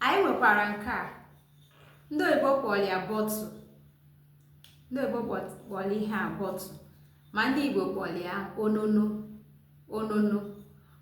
anyị nwekwara nke a ndị oyibo kpọrọ ya bottle ndị oyibo kpọrọ ihe a bottle ma ndị igbo kpọrọ ya onono onono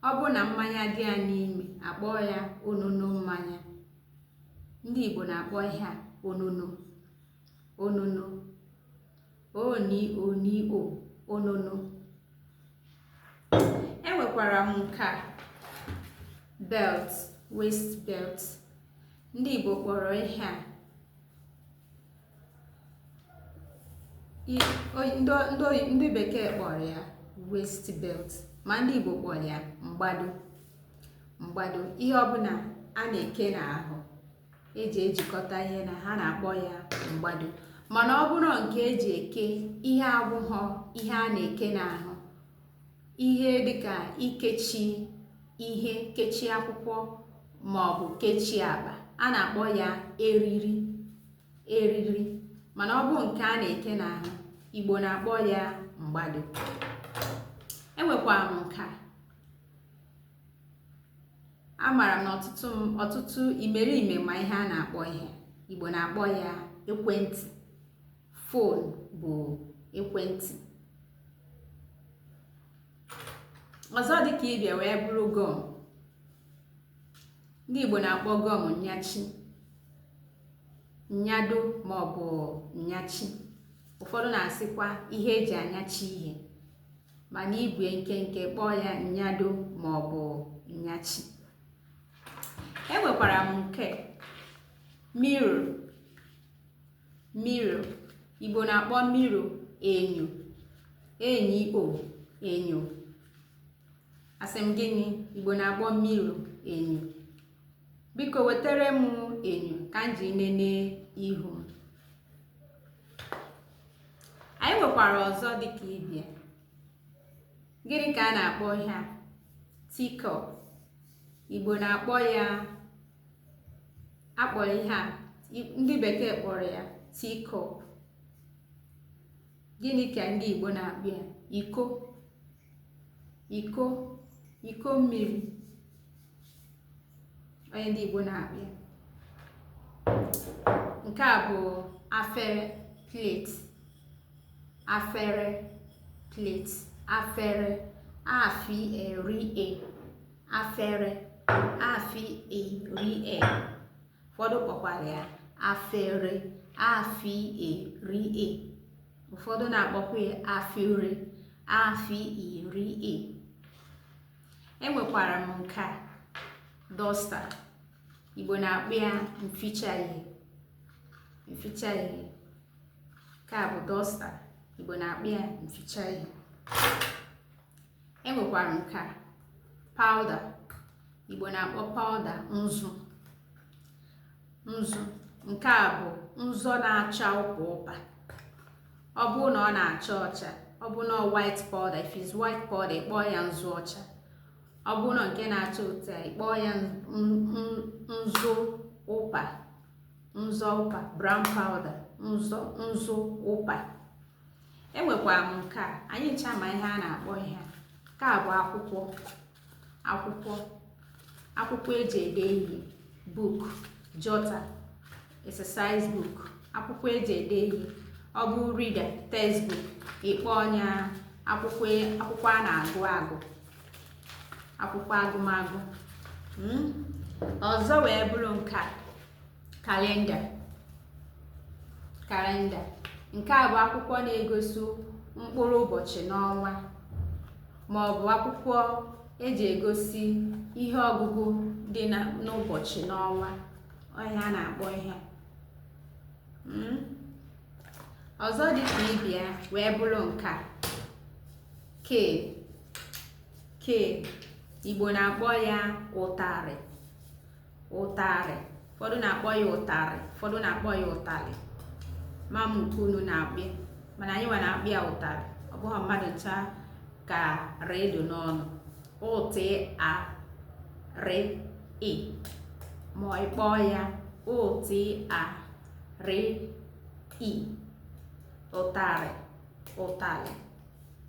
ọ bụ na mmanya dị ya n'ime a kpọọ ya onono mmanya ndị igbo na-akpọ ihe a onono onono o ni o ni o onono enwekwara m nke a belt waist belt ndị Igbo kpọrọ ihe a ndị bekee kpọrọ ya waist belt ma ndị Igbo kpọrọ ya mgbado mgbado ihe ọbụla a na-eke n'ahụ eji ejikọta ihe na ha na-akpọ ya mgbado mana ọ bụrụ nke eji eke ihe abụghọ ihe a na-eke n'ahụ ihe dịka ikechi ihe kechi akwụkwọ ma ọ bụ kechi akpa a na-akpọ ya eriri eriri mana ọ bụ nke a na-eke n'ahụ igbo na-akpọ ya mgbado enwekwara m nke a amaara m na ọtụtụ ọtụtụ imerime ma ihe a na-akpọ ihe igbo na-akpọ ya ekwentị phone bụ ekwentị ọzọ dị ka ibe ya wee bụrụ gum ndị igbo na-akpọ gum nyachi nyado maọbụ nyachi ụfọdụ na-asịkwa ihe eji anyachi ihe mana igbu ya nkenke kpọọ ya nnyado ma ọ bụ nnyachi enwekwara m nke mirror mirror igbo na-akpọ mirror enyo e nyi o enyo asị m gịnị igbo na-akpọ mirror enyo biko wetere m enyo ka m ji nene ihu m anyị nwekwara ọzọ dịka ibe ya gịnị ka a na-akpọ ihe a teacup igbo na-akpọ ya a kpọrọ ihe a ndị bekee kpọrọ ya teacup gịnị ka ndị igbo na-akpọ ya iko iko iko mmiri ọ ya ndị Igbo na-akpọ ya nke a bụ afere plate afere plate afere a fi e ri e afere a fi e ri e ụfọdụ kpọkwara ya afere a fi e ri e ụfọdụ na-akpọkwa ya afere afere enwekwara m nke a duster igbo na-akpọ ya mficha ihe mficha ihe nke a bụ duster igbo na-akpọ ya mficha ihe enwekwara nke a powder igbo na-akpọ powder nzu nzu nke a bụ nzu na-acha ụpa ụpa ọ bụ na ọ na-acha ọcha ọ bụ na white powder if it's white powder ị kpọọ ya nzu ọcha ọ bụ na nke na-acha ụpa ị kpọọ ya nzu ụpa nzu ụpa brown powder nzu ụpa enwekwara m nke a anyị ncha ma ihe a na-akpọ ihe nke a bụ akwụkwọ akwụkwọ akwụkwọ eji ede ihe book jotter exercise book akwụkwọ eji ede ihe ọ bụ reader textbook ị kpọọ ya akwụkwọ a na-agụ agụ akwụkwọ agụmagụ hmm? ọzọ wee bụrụ nke a kalenda kalenda nke a bụ akwụkwọ na-egosi mkpụrụ ụbọchị n'ọnwa ma ọ bụ akwụkwọ eji egosi ihe ọgụgụ dị n'ụbọchị n'ọnwa ọ ihe a na-akpọ ihe hmm? ọzọ dị ka ibe ya wee bụrụ nke a cane cane igbo na-akpọ ya ụtarị ụtarị ụfọdụ na-akpọ ya ụtarị ụfọdụ na-akpọ ya ụtalị ma m nke unu na-akpọ mana anyị nwa na-akpọ ya ụtalị ọ bụghị mmadụ ncha ka r do n'ọnụ ụ t a r ị ma ị kpọọ ya ụ t a r ị ụtarị ụtalị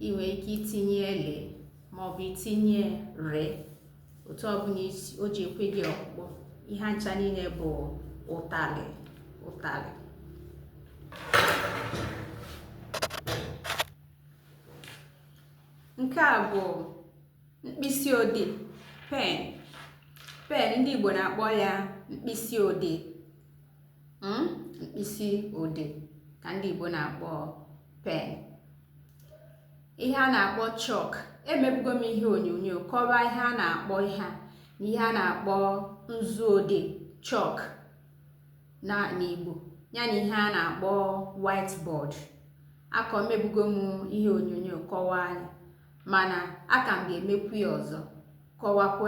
ị nwere ike itinye l maọbụ itinye r otu ọbụla o ji ekwe gị ọkpụkpọ ihe ncha niile bụ ụtalị ụtalị nke a bụ mkpịsị odee pen pen ndị Igbo na-akpọ ya mkpịsị odee hmm? mkpịsị odee ka ndị Igbo na-akpọ pen ihe a na-akpọ chalk emebugo m ihe onyonyo kọwaa ihe a na-akpọ ihe a na ihe a na-akpọ nzu odee chalk n'Igbo ya na ihe a na-akpọ whiteboard akọ emebugo m ihe onyonyo kọwaa ya mana aka m ga-emekwu ya ọzọ kọwakwa